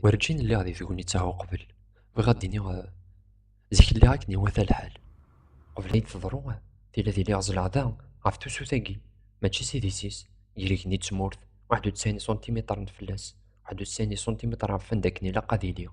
Werǧin lliɣ di tegnit-a uqbel. Bɣiɣ ad d-iniɣ eh, zik lliɣ akken iwata lḥal. Qbel ay d-teḍru, eh, tili ad iliɣ zleɣ da ɣef tusut-agi, mačči s idis-is, gar igenni d tmurt, waḥed u tesɛin iṣuntimitren fell-as, waḥed u tesɛin iṣuntimitren ɣef wanda akken ilaq ad iliɣ.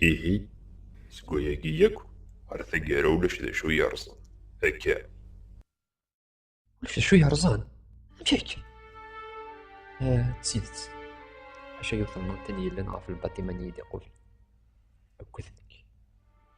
Ihi, seg wayagi yakk, ar taggara ulac d acu yerẓen. Akka. Ulac d acu yerẓen? Amek akka? Ah, d tidet. Acu ay utemnant n yellan ɣef lbaṭima n yidiqul? Akked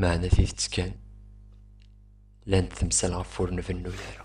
Meɛna tidet kan, llant temsal ɣef ur nbennu ara.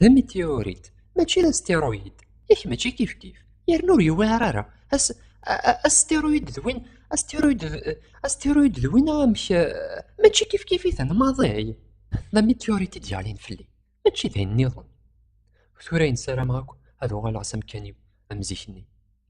D ameteorit, mačči d asteroid. Yak mačči kifkif. Yerna ur yewɛir ara. Asteroid d win asteroid asteroid d win amek mačči kifkif-iten maḍi. D ameteorit i d-yeɣlin fell-i. Mačči d ayen nniḍen. Tura ayen ssarameɣ akk ad uɣaleɣ s amkan-iw am zik-nni.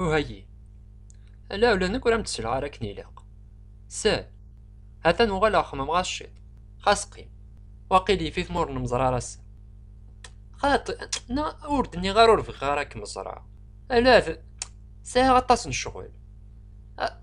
Uhayyi. Ala ula nekk ur am-d-selleɣ ara akken ilaq. Sal. Atan uɣaleɣ xemmemeɣ ɣas ciṭ. Xas qim. Waqil yif-it ma ur nemẓer ara ass-a. Xaṭi, na ur d-nniɣ ara ur bɣiɣ ara ad kem-ẓreɣ. Ala d... sɛiɣ aṭas n ccɣel.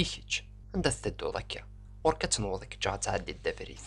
I kečč, anda tettedduḍ akka? Ɣur-k ad tenweḍ i keččeɣ ad tɛeddi ddabrit.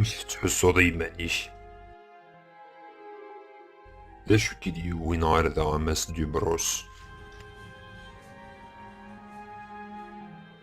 amek tettḥussuḍ i yiman-ik? D acu k-id yewwin ɣer da a Mass Dubrus?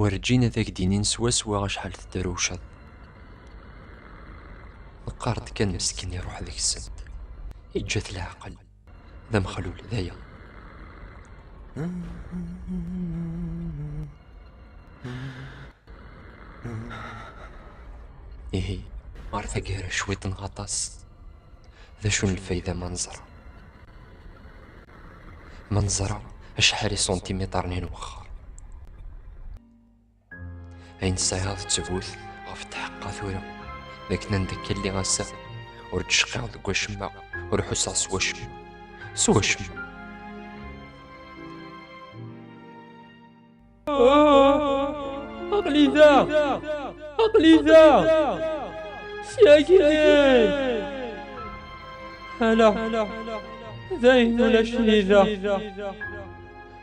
werǧin ad ak-d-inin swaswa acḥal tedrewceḍ. Teqqar-d kan meskin iruḥ deg-sent. Iǧǧa-t leɛqel. d amexlul d aya ihi ɣer taggara cwiṭ neɣ aṭas d acu n lfayda ma neẓra ma neẓra acḥal isuntimitaren i nwexxer Ayen tesɛiḍ ttbut ɣef tḥeqqa tura d akken anda akka lliɣ ass-a ur d-cqiɣ deg wacemma ur ḥusseɣ s wacemma s wacemma aqli da aqli da syagi hala dayen ulac-iyi da